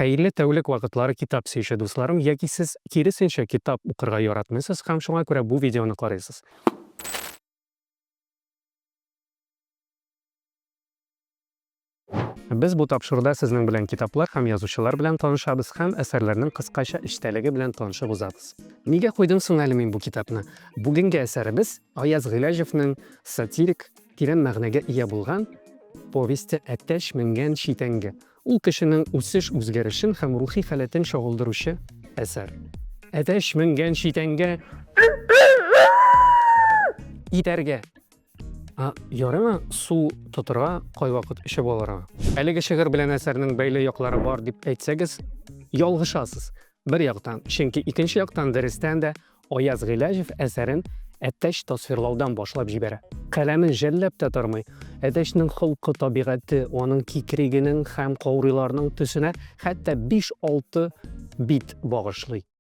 Хәерле тәүлек вакытлары китап сөюче дусларым, яки сез киресенчә китап укырга яратмыйсыз һәм шуңа күрә бу видеоны карыйсыз. Без бу тапшыруда сезнең белән китаплар һәм язучылар белән танышабыз һәм әсәрләрнең кыскача эчтәлеге белән танышып узабыз. Нигә куйдым соң әле мин бу китапны? Бүгенге әсәребез Аяз Гыйләҗевнең сатирик, тирән мәгънәгә ия булган повесте Әтәч менгән читәнгә. Ул кешенең үсеш-үзгәрешен һәм рухи халәтен чагылдыручы әсәр. Әтәч менгән читәнгә итәргә! Ә ярыма су тотырга кайвакыт эче балара. Әлеге шигырь белән әсәрнең бәйле яклары бар дип әйтсәгез, ялгышасыз. Бер яктан, чөнки икенче яктан дөрестән дә Аяз Гыйләҗев әсәрен әтәч тасвирлаудан башлап җибәрә. Каләмен жәлләп тә тормый. Әтәчнең холкы, табигате, аның кикригенең һәм каурыйларның төсенә хәтта биш-алты бит багышлый.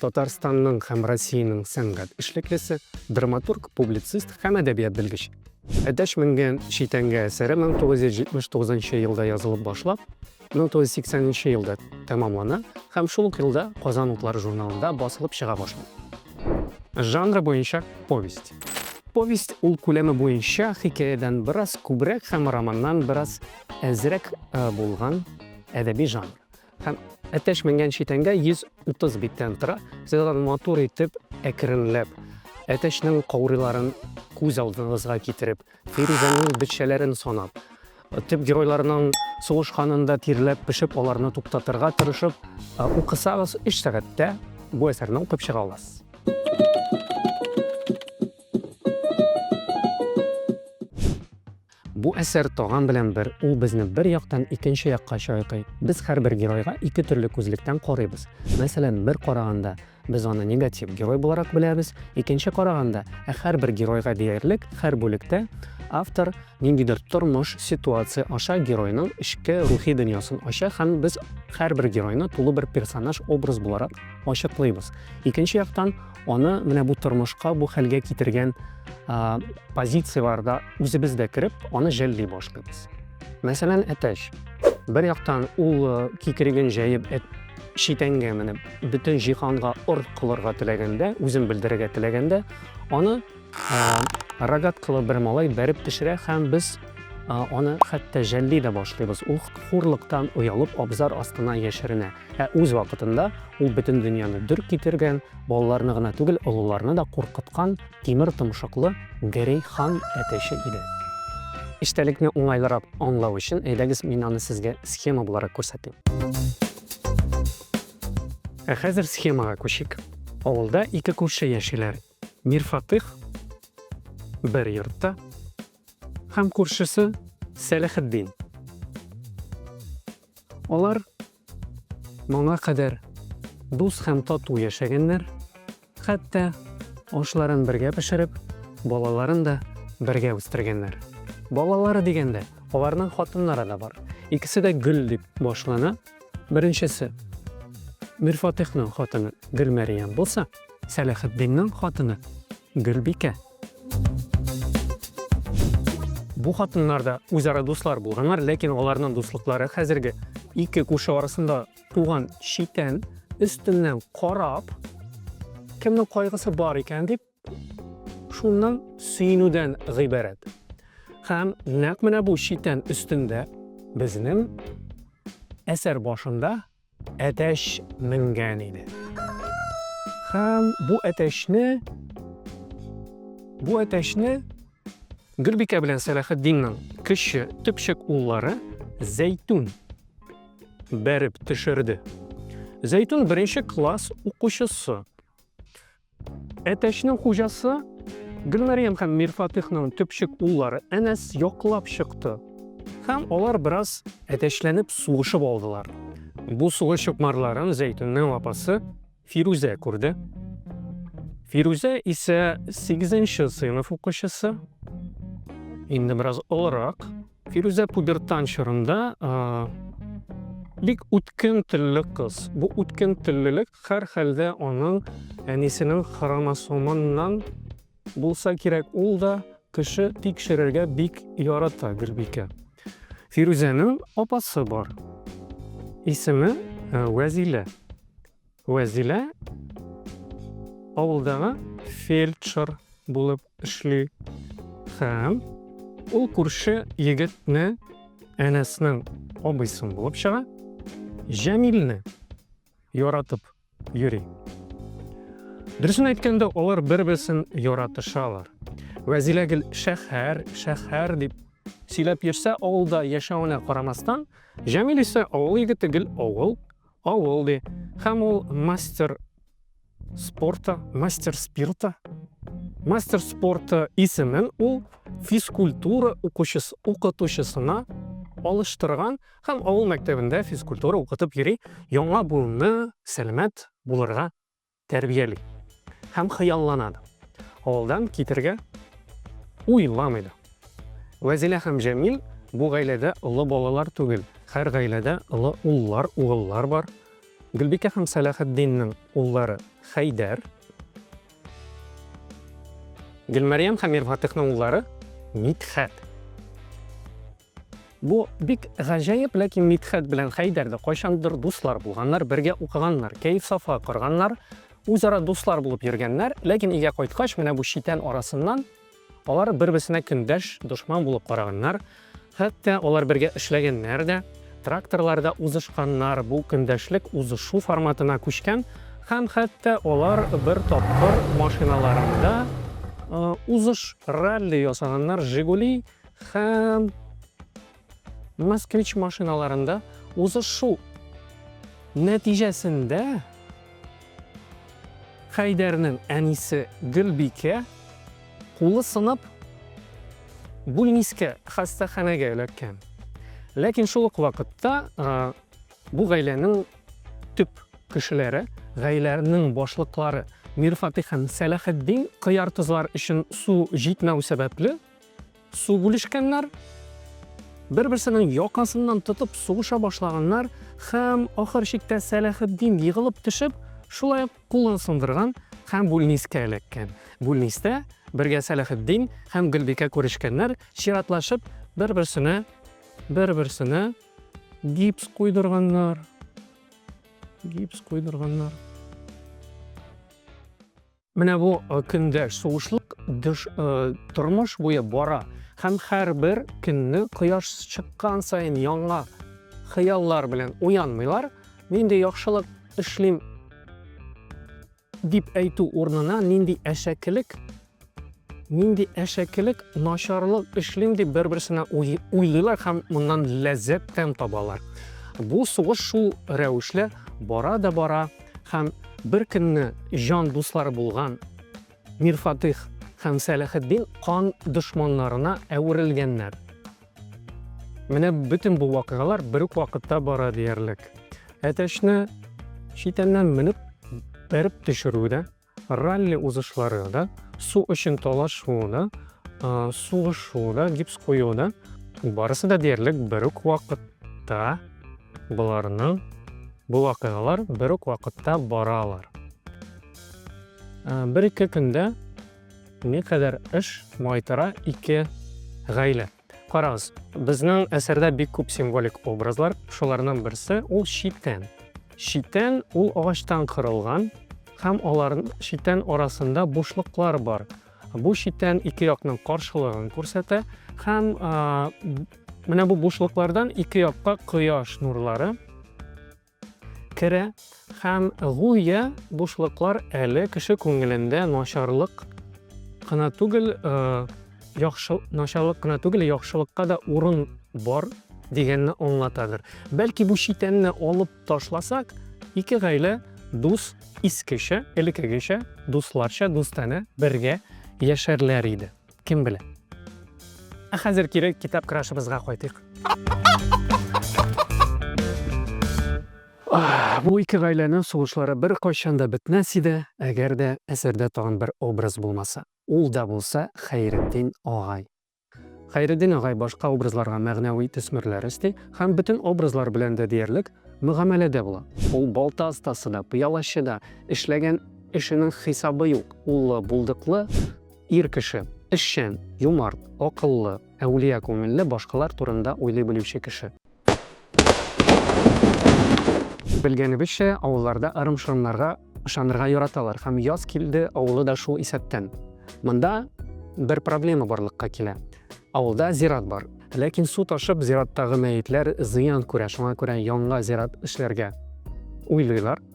Татарстанның һәм Россиянең сәнгать эшлеклесе, драматург, публицист һәм әдәбият белгеч. Әтәч менгән читәнгә әсәре 1979 елда язылып башлап, 1980 елда тәмамлана һәм шул ук елда Казан утлары журналында басылып чыга башлый. Жанры буенча повесть. Повесть ул күләме буенча хикәядән бераз күбрәк һәм романнан бераз әзрәк э, булган әдәби жанр. Һәм әтәч менгән читәнгә 130 биттән тора. Сез аны матур итеп, әкренләп, әтәчнең кауриларын күз алдыгызга китереп, фирүзәнең бетчәләрен санап, төп геройларның сугышканында тирләп пешеп, аларны туктатырга тырышып, укысагыз, 3 сәгатьтә бу әсәрне укып чыга аласыз. Бу әсәр таган белән бер, ул безне бер яктан икенче якка чайкый. Без һәрбер геройга ике төрле күзлектән карыйбыз. Мәсәлән, бер караганда, без аны негатив герой буларак беләбез, икенче караганда, ә һәрбер геройга диярлек һәр бүлектә автор ниндидер тормыш, ситуация аша геройның эчке рухи дөньясын ача һәм без һәрбер геройны тулы бер персонаж, образ буларак ачыклыйбыз. Икенче яктан, аны менә бу тормышка, бу хәлгә китергән позицияләрдә үзебез дә кереп, аны жәлли башлыйбыз. Мәсәлән, әтәч. Бер яктан ул э, кикриген җәеп әт читәнгә менеп, бөтен җиһанга ор кылырга теләгәндә, үзен белдерергә теләгәндә, аны э, рогаткалы бер малай бәреп төшерә һәм без э, аны хәтта жәлли дә башлыйбыз. Ул хурлыктан оялып абзар астына яшеренә. Ә үз вакытында ул бөтен дөньяны дөр китергән, балаларны гына түгел, олыларны да куркыткан тимер томшыклы Герей хан әтәче иде. Эчтәлекне уңайлырак аңлау өчен, әйдәгез мин аны сезгә схема буларак күрсәтим. Ә хәзер схемага күчик. Авылда ике күрше яшиләр. Мирфатыйх бер йортта һәм күршесе Сәләхетдин. Алар моңа кадәр дус һәм тату яшәгәннәр, хәтта ашларын бергә пешереп, балаларын да бергә үстергәннәр. Балалары дигәндә, аларның хатыннары да бар. Икесе дә Гөл дип башлана. Беренчесе Мирфатихның хатыны Гөлмәриям булса, Сәләхетдинның хатыны Гөлбикә. Бу хатыннар да үзара дуслар булганнар, ләкин аларның дуслыклары хәзерге ике күрше арасында туган читән өстеннән карап, кемнең кайгысы бар икән дип, шуннан сөенүдән гыйбарәт. Һәм нәкъ менә бу читән өстендә безнең әсәр башында Әтәч менгән иде. Һәм бу әтәчне бу әтәчне Гөлбикә белән Сәләхетдиннең кече төпчек уллары Зәйтүн бәреп төшерде. Зәйтүн беренче класс укучысы. Әтәчнең хуҗасы Гөлмәрьям һәм Мирфатыхның төпчек уллары Әнәс яклап чыкты. Һәм алар бераз әтәчләнеп сугышып алдылар. Бу сугыш чукмарларын Зәйтүннең апасы Фирүзә күрде. Фирүзә исә 8 нче сыйныф укучысы, инде бераз олырак. Фирүзә пубертан чорында бик үткен телле кыз. Бу үткен теллелек һәрхәлдә аның әнисенең хромосомыннан булса кирәк, ул да кеше тикшерергә бик ярата Гөлбикә. Фирүзәнең апасы бар. Исеме э, Вәзилә. Вәзилә авылдагы фельдшер булып эшли һәм ул күрше егетне әнәснең абыйсын булып чыга җәмилне яратып йөри дөресен әйткәндә алар бер берсен яратышалар вәзилә гел шәһәр шәһәр дип сөйләп йөрсә авылда яшәвенә карамастан җәмил исә авыл егете гел авыл авыл ди һәм ул мастер спорта, мастер спирта, мастер спорта исемен ул физкультура укучысы, укытучысына алыштырган һәм авыл мәктәбендә физкультура укытып йөри, яңа буынны сәламәт булырга тәрбияли һәм хыяллана да. Авылдан китергә уйламый да. Вәзилә һәм Җәмил бу гаиләдә олы балалар түгел. Һәр гаиләдә олы уллар, угыллар бар. Гөлбикә һәм Сәлахетдиннең уллары Хәйдәр. Гөлмәрьям һәм Мирфатыйхның уллары Мидхәт. Бу бик гаҗәеп, ләкин Мидхәт белән Хәйдәр дә кайчандыр дуслар булганнар, бергә укыганнар, кәеф-сафа корганнар, үзара дуслар булып йөргәннәр, ләкин өйгә кайткач, менә бу читән арасыннан Алар бер-берсенә көндәш, дошман булып караганнар, хәтта алар бергә эшләгәннәр дә, тракторларда узышканнар, бу көндәшлек узышу форматына күчкән һәм хәтта алар бер тапкыр машиналарында узыш, ралли ясаганнар, Жигули һәм Москвич машиналарында узышу нәтиҗәсендә Хәйдәрнең әнисе Гөлбикә кулы сынып, бүлнискә хастаханәгә эләккән. Ләкин шул ук вакытта бу гаиләнең төп кешеләре, гаиләнең башлыклары Мирфатих һәм Сәләхетдин кыяртызлар өчен су җитмәү сәбәпле, Су бүлешкәннәр, бер-берсенең якасыннан тотып сугыша башлаганнар һәм ахыр чиктә Сәләхетдин егылып төшеп, шулай ук кулын сындырган һәм бүлнискә эләккән. Бүлнистә бергә Сәләхетдин һәм Гөлбикә күрешкәннәр, чиратлашып, бер-берсенә бер-берсенә гипс куйдырганнар. Гипс куйдырганнар. Менә бу көндәш сугышлык тормыш буе бара һәм һәрбер көнне кояш чыккан саен яңа хыяллар белән уянмыйлар. Нинди яхшылык эшлим дип әйтү урынына нинди әшәкелек нинди әшәкелек начарлык эшлим дип бер-берсенә уйлыйлар һәм моннан ләззәт тәм табалар. Бу сугыш шул рәвешле бара да бара Һәм беркөнне җан дуслары булган Мирфатыйх һәм Сәләхетдин кан дошманнарына әверелгәннәр. Менә бөтен бу вакыйгалар бер үк вакытта бара диярлек. Әтәчне читәннән менеп бәреп төшерү дә Ралли узышлары да, су өчен талашу да, сугышу да, гипс кую да, барысы да диярлек бер үк вакытта боларның бу вакыйгалар бер үк вакытта баралар. Бер-ике көндә никадәр эш майтара ике гаилә. Карагыз, безнең әсәрдә бик күп символик образлар, шуларның берсе ул читән. Читән ул агачтан кырылган һәм алар читән арасында бушлыклар бар. Бу читән ике якның каршылыгын күрсәтә һәм менә бу бушлыклардан ике якка кояш нурлары Керә һәм гүя бушлыклар әле кеше күңелендә начарлык кына түгел, яхшы начарлык кына түгел, яхшылыкка да урын бар дигәнне аңлатадыр. Бәлки бу читәнне алып ташласак, ике гаилә дус искечә, элекегечә, дусларча, дустанә бергә яшәрләр иде. Кем белә. Ә хәзер кире китап крашыбызга кайтыйк. Бу ике гаиләнең сугышлары бер кайчан да бетмәс иде, әгәр дә әсәрдә тагын бер образ булмаса. Ул да булса Хәйретдин агай. Хәйретдин агай башка образларга мәгънәви төсмерләр өсти һәм бөтен образлар белән дә диярлек мөгамәләдә була. Ул балта остасы да, пыялачы да, эшләгән эшенең хисабы юк, уллы, булдыклы, Ир кеше, эшчән, юмарт, акыллы, әүлия күңелле, башкалар турында уйлый белүче кеше. Белгәнебезчә, авылларда ырым-шырымнарга ышанырга яраталар һәм яз килде авылы да шул исәптән. Монда бер проблема барлыкка килә. Авылда зират бар. Ләкин су ташып, зираттагы мәетләр зыян күрә, шуңа күрә яңа зират эшләргә уйлыйлар.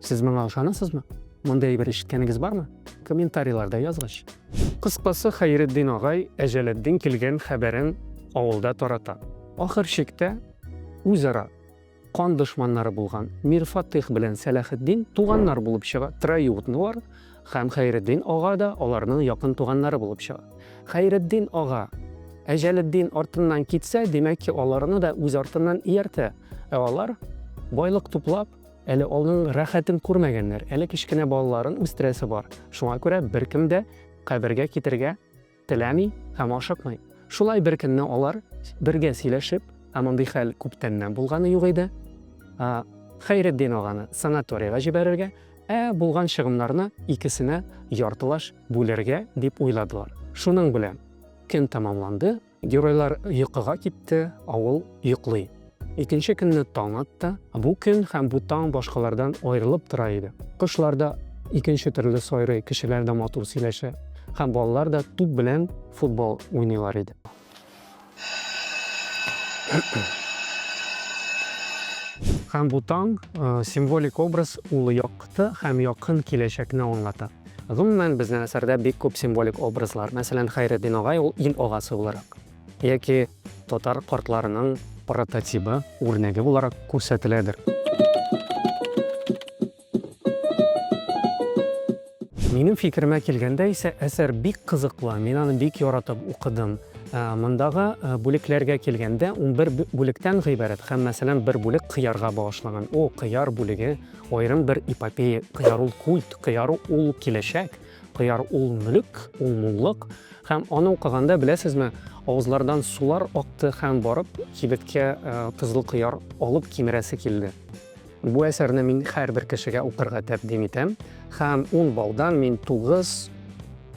Сез моңа ышанасызмы? Мондый әйбер ишеткәнегез бармы? Комментарийларда язгач. Кыскасы, Хәйретдин агай Әҗәлетдин килгән хәбәрен авылда тарата. Ахыр чиктә, үзара кан дошманнары булган Мир Фатыйх белән Сәлахетдин туганнар булып чыга, троюродныйлар, һәм Хәйретдин ага да аларның якын туганнары булып чыга. Хәйретдин ага Әҗәлетдин артыннан китсә, димәк ки, аларны да үз артыннан ияртә. Ә алар, байлык туплап, Әле алның рәхәтен күрмәгәннәр, әле кечкенә балаларын үстерәсе бар, шуңа күрә беркем дә кабергә китергә теләми һәм ашыкмый. Шулай беркөнне алар бергә сөйләшеп, ә мондый хәл күптәннән булганы юк иде, Хәйретдин аганы санаторийга җибәрергә, ә булган чыгымнарны икесенә яртылаш бүлергә дип уйладылар. Шуның белән көн тәмамланды. Геройлар йокыга китте, авыл йоклый. Икенче көнне таң атты. Бу көн һәм бу таң башкалардан аерылып тора иде. Кошлар да икенче төрле сайрый, кешеләр дә матур сөйләшә һәм балалар да туп белән футбол уйныйлар иде. Һәм бу таң символик образ улы якты һәм якын киләчәкне аңлата. Гомумән, безнең әсәрдә бик күп символик образлар, мәсәлән, Хәйретдин агай ул ил агасы буларак яки татар картларының прототибы, үрнәге буларак күрсәтеләдер. Минем фикеремә килгәндә исә, әсәр бик кызыклы, мин аны бик яратып укыдым. Мондагы бүлекләргә килгәндә, унбер бүлектән гыйбарәт һәм, мәсәлән, бер бүлек кыярга багышланган. О, кыяр бүлеге! Аерым бер эпопея Кыяр ул культ, Кыяр ул киләчәк, Кыяр ул мөлек, ул муллык. Һәм аны укыганда, беләсезме, авызлардан сулар акты һәм барып кибеткә э, кызыл кыяр алып кимерәсе килде. Бу әсәрне мин һәрбер кешегә укырга тәкъдим итәм һәм 10 балдан мин 9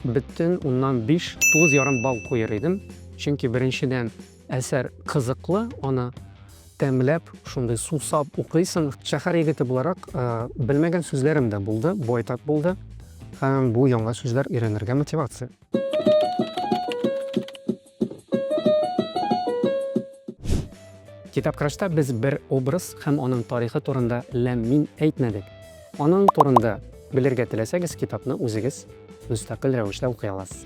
бөтен уннан 5 9 ярым балл куер идем. Чөнки беренчедән Әсәр кызыклы, аны тәмләп, шундый сусап укыйсың. Шәһәр егете буларак, белмәгән сүзләрем дә булды, байтак булды. Һәм бу яңа сүзләр өйрәнергә мотивация. Китапкрашта без бер образ һәм аның тарихы турында ләм-мим әйтмәдек. Аның турында белергә теләсәгез, китапны үзегез мөстәкыйль рәвештә укый аласыз.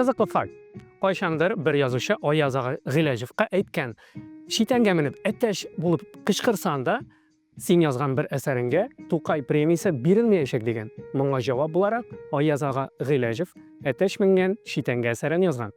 Кызыклы факт. Кайчандыр бер язучы Аяз ага Гыйләҗевка әйткән, читәнгә менеп әтәч булып кычкырсаң да, син язган бер әсәреңгә Тукай премиясе бирелмәячәк дигән. Моңа җавап буларак Аяз ага Гыйләҗев әтәч менгән читәнгә әсәрен язган.